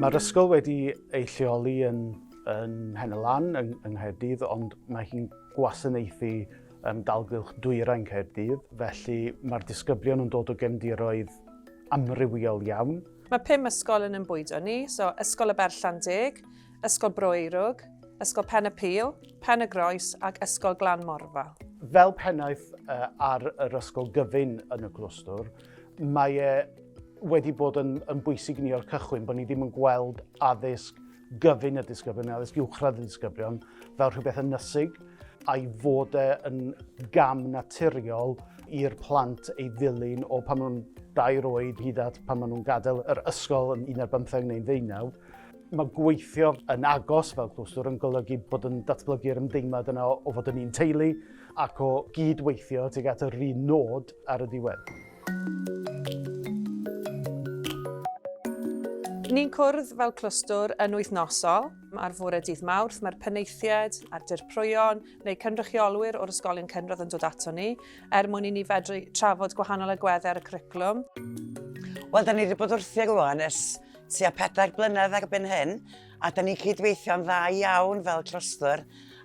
Mae'r ysgol wedi ei lleoli yn, yn Hen y Lan, yng, yng Nghaerdydd, ond mae hi'n gwasanaethu um, dalgylch dwyrain Caerdydd, felly mae'r disgyblion yn dod o gefndiroedd amrywiol iawn. Mae pum ysgol yn ymbwydo ni, so Ysgol y Berllan Deg, Ysgol Broeirwg, Ysgol Pen y Pil, Pen y Groes ac Ysgol Glan Morfa. Fel pennaeth uh, ar yr ysgol gyfyn yn y clwstwr, mae e wedi bod yn, yn bwysig ni o'r cychwyn bod ni ddim yn gweld addysg gyfyn y disgyblion, addysg uwchradd y disgyblion, fel rhywbeth yn nysig, a'i fod e yn gam naturiol i'r plant ei ddilyn o pan nhw'n dair oed hyd at pan maen nhw'n gadael yr ysgol yn 11 neu'n ddeunaw. Mae gweithio yn agos fel clwstwr yn golygu bod yn datblygu'r ymdeimlad yna o fod yn un teulu ac o gyd-weithio tuag at yr un nod ar y diwedd. Ni'n cwrdd fel clwstwr yn wythnosol. Ar fore dydd Mawrth mae'r penaethiaid a'r dirprwyon neu cynrychiolwyr o'r ysgolion cynradd yn dod ato ni er mwyn i ni fedru trafod gwahanol agweddau ar y cwricwlwm. Wel, da ni wedi bod wrthi ag Iwan ers Tua pedair blynedd erbyn hyn, a da ni'n cydweithio'n dda iawn fel trustwr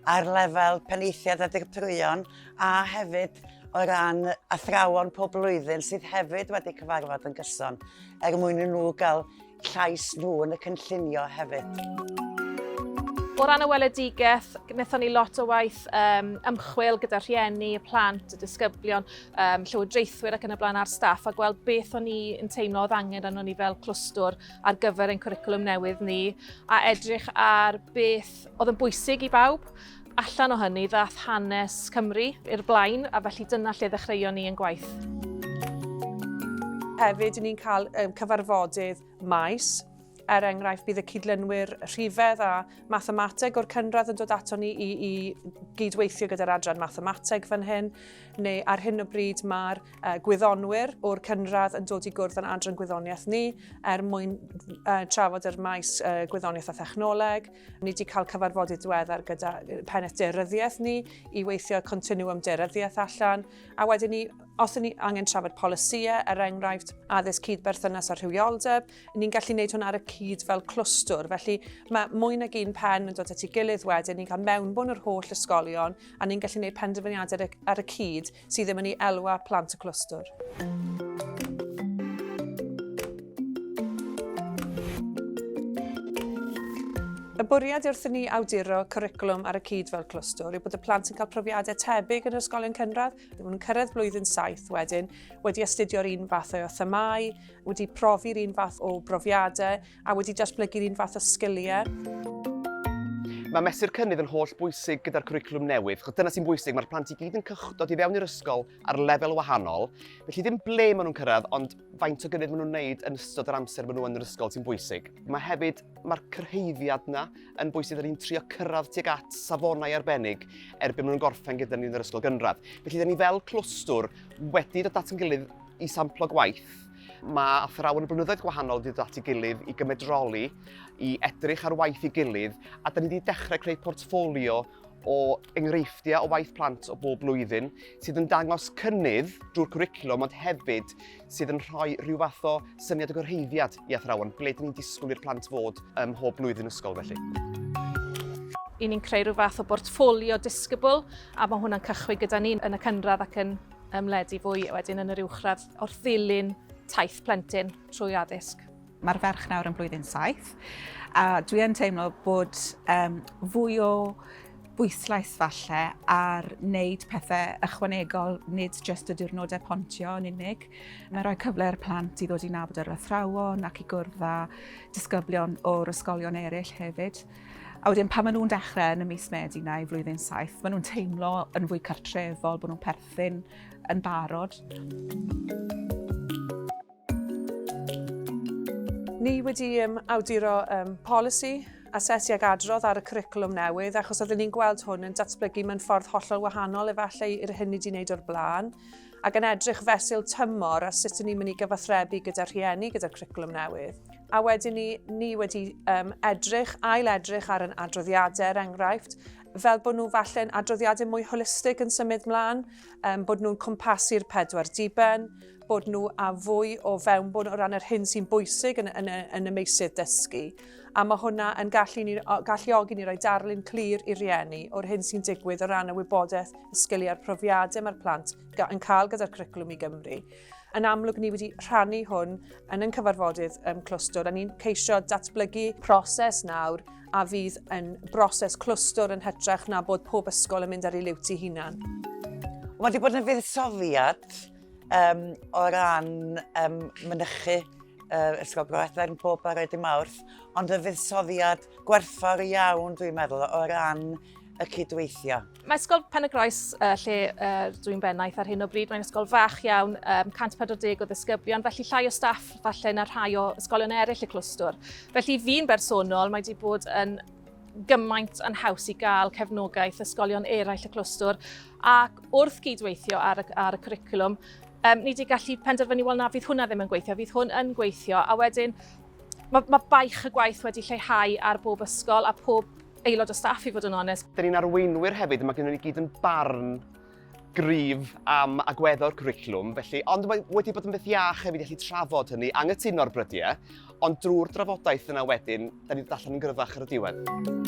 ar lefel penaethiaid a dirprwyon a hefyd o ran athrawon pob blwyddyn sydd hefyd wedi cyfarfod yn gyson er mwyn i nhw gael llais nhw yn y cynllunio hefyd. O ran y weledigaeth, wnaethon ni lot o waith um, ymchwil gyda rhieni, y plant, y disgyblion, um, llywodraethwyr ac yn y blaen ar staff a gweld beth o'n ni yn teimlo oedd angen arno ni fel clwstwr ar gyfer ein cwricwlwm newydd ni a edrych ar beth oedd yn bwysig i bawb. Allan o hynny ddath hanes Cymru i'r blaen a felly dyna lle ddechreuon ni yn gwaith. Hefyd, ni'n cael um, cyfarfodydd maes Er enghraifft, bydd y cydlynwyr rhifedd a mathemateg o'r cynradd yn dod ato ni i, i gydweithio gyda'r adran mathemateg fan hyn. neu ar hyn o bryd mae'r uh, gwyddonwyr o'r cynradd yn dod i gwrdd yn adran gwyddoniaeth ni er mwyn uh, trafod yr maes uh, gwyddoniaeth a thechnoleg. Ni wedi cael cyfarfodydd diweddar gyda pennaeth deryddiaeth ni i weithio continuum deryddiaeth allan a wedyn ni os ni angen trafod polisïau, er enghraifft addysg cyd berthynas a rhywioldeb, ni'n gallu gwneud hwn ar y cyd fel clwstwr. Felly mae mwy nag un pen yn dod at ei gilydd wedyn, ni'n cael mewnbwn yr holl ysgolion a ni'n gallu gwneud penderfyniadau ar y cyd sydd ddim yn ei elwa plant y clwstwr. Y bwriad wrth i ni awduro cwricwlwm ar y cyd fel clwstwr yw bod y plant yn cael profiadau tebyg yn yr ysgolion cynradd, ddim yn cyrraedd blwyddyn saith wedyn, wedi astudio'r un fath o themau, wedi profi'r un fath o brofiadau, a wedi datblygu'r un fath o sgiliau. Mae mesur cynnydd yn holl bwysig gyda'r cwricwlwm newydd, chos dyna sy'n bwysig, mae'r plant i gyd yn cychdod i fewn i'r ysgol ar lefel wahanol, felly ddim ble maen nhw'n cyrraedd, ond faint o gynnydd maen nhw'n wneud yn ystod yr amser maen nhw yn yr ysgol sy'n bwysig. Mae hefyd, mae'r cyrhaeddiad yna yn bwysig, rydyn ni'n trio cyrraedd tuag at safonau arbennig erbyn maen nhw'n gorffen gyda ni yn yr ysgol gynradd. Felly, da ni fel clwstwr wedi dod at yn gilydd i samplo gwaith Mae athrawon o blynyddoedd gwahanol wedi dod at ei gilydd i gymedroli, i edrych ar waith ei gilydd, a da ni wedi dechrau creu portffolio o enghreifftiau o waith plant o bob blwyddyn sydd yn dangos cynnydd drwy'r cwricwlwm ond hefyd sydd yn rhoi rhyw fath o syniad o gyrhaeddiad i athrawon ble dyn ni'n disgwyl i'r plant fod ym mhob blwyddyn ysgol felly. I ni'n creu rhyw fath o bortffolio disgybl a mae hwnna'n cychwyn gyda ni yn y cynradd ac yn ymledu fwy wedyn yn yr uwchradd. wrth ddilyn taith plentyn trwy addysg. Mae'r ferch nawr yn blwyddyn saith, a dwi yn teimlo bod um, fwy o bwyslais falle ar wneud pethau ychwanegol, nid jyst y diwrnodau pontio yn unig. Mae'n rhoi cyfle i'r plant i ddod i nabod yr athrawon ac i gwrdd â disgyblion o'r ysgolion eraill hefyd. A wedyn pan maen nhw'n dechrau yn y mis Medi na i flwyddyn saith, maen nhw'n teimlo yn fwy cartrefol, bod nhw'n perthyn yn barod. Ni wedi um, awduro um, polisi asesu ag adrodd ar y curriculum newydd, achos oedden ni'n gweld hwn yn datblygu mewn ffordd hollol wahanol efallai i'r hyn ni wedi wneud o'r blaen, ac yn edrych fesul tymor a sut ni'n mynd i gyfathrebu gyda rhieni gyda'r curriculum newydd. A wedyn ni, ni wedi um, edrych, ail edrych ar yn adroddiadau, er enghraifft, fel bod nhw falle'n adroddiadau mwy holistig yn symud mlaen, um, bod nhw'n cwmpasu'r pedwar diben, bod nhw a fwy o fewnbwn o ran yr hyn sy'n bwysig yn, yn, yn y meisydd dysgu. A mae hwnna yn gallu ni, galluogi ni roi darlun clir i rieni o'r hyn sy'n digwydd o ran y wybodaeth, y sgiliau'r profiadau mae'r plant yn cael gyda'r cwricwlwm i Gymru. Yn amlwg ni wedi rhannu hwn yn yn cyfarfodydd um, clwstwr a ni'n ceisio datblygu proses nawr a fydd yn broses clwstwr yn hytrach na bod pob ysgol yn mynd ar ei liwt i hunan. Mae wedi bod yn fuddsoddiad um, o ran um, mynychu uh, Ysgol Groethfer yn pob ar y mawrth, ond y fuddsoddiad gwerthfawr iawn, dwi'n meddwl, o ran y cydweithio. Mae Ysgol Pen-y-groes, uh, lle uh, dwi'n bennaeth ar hyn o bryd, mae'n ysgol fach iawn, um, 140 o ddisgyblion, felly llai o staff falle na rhai o ysgolion eraill y clwstwr. Felly fi'n bersonol, mae wedi bod yn gymaint yn haws i gael cefnogaeth ysgolion eraill y clwstwr ac wrth gydweithio ar y, ar y cwricwlwm, um, ni wedi gallu penderfynu, wel na, fydd hwnna ddim yn gweithio, fydd hwn yn gweithio, a wedyn mae, mae baich y gwaith wedi lleihau ar bob ysgol a pob aelod o staff i fod yn onest. Dyn ni'n arweinwyr hefyd a mae gennym ni gyd yn barn gryf am agweddau'r cwricwlwm, felly, ond mae wedi bod yn beth iach hefyd i allu trafod hynny, anghytuno'r brydiau, ond drwy'r drafodaeth yna wedyn, da ni'n dod yn gryfach ar y diwedd.